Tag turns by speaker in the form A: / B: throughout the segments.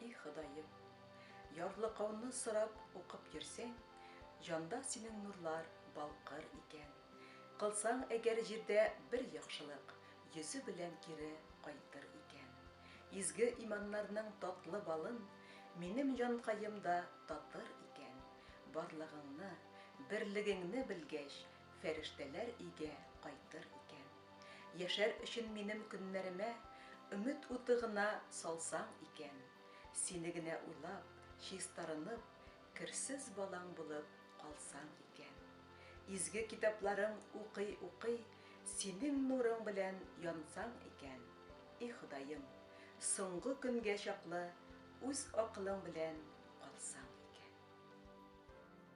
A: И Ходаем, ярлыкауны сорап укып йөрсәң, җанда синең нурлар балкыр икән. Кылсаң әгәр җирдә бер яхшылык, йөзе белән кире кайтыр икән. Изге
B: иманнарның татлы балын минем җанкаем да татыр икән. Барлыгыңны, берлегеңне белгәч, Фәрештәләр өйгә кайтыр икән. Яшәр өчен минем көннәремә Өмет уты гына салсаң икән. Сине генә уйлап, чистарынып, Керсез балаң булып калсаң икән. Изге китапларың укый-укый, Синең нурың белән янсаң икән. И Ходаем, соңгы көнгә чаклы Үз акылың белән калсаң икән.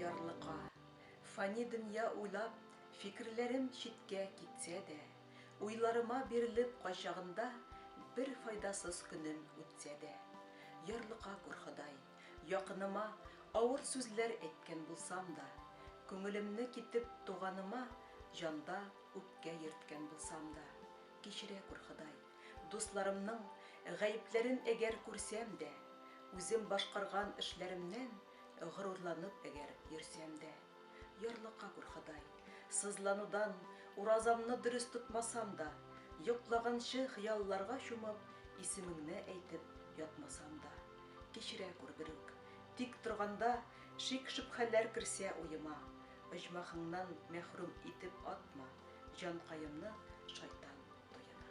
B: ярлыка. Фани дөнья уйлап, фикерләрем читкә китсә дә, уйларыма бирелеп кайчагында бер файдасыз көнем үтсә дә. Ярлыка күр, Ходай. Якыныма авыр сүзләр әйткән булсам да, күңелемне китеп туганыма җанда үпкә йөрткән булсам да, кичерә күр, Ходай, дусларымның гаепләрен әгәр күрсәм дә, үзем башкарган эшләремнән горурланып әгәр йөрсәм дә. Ярлыка күр, Ходай, сызланудан Уразамны дөрес тотмасам да, Йоклаганчы хыялларга чумып, Исемеңне әйтеп ятмасам да. Кичерә күр, берүк. Тик торганда Шик-шөбһәләр керсә уема, Оҗмахыңнан мәхрүм итеп атма, Җанкаемны шайтан туена.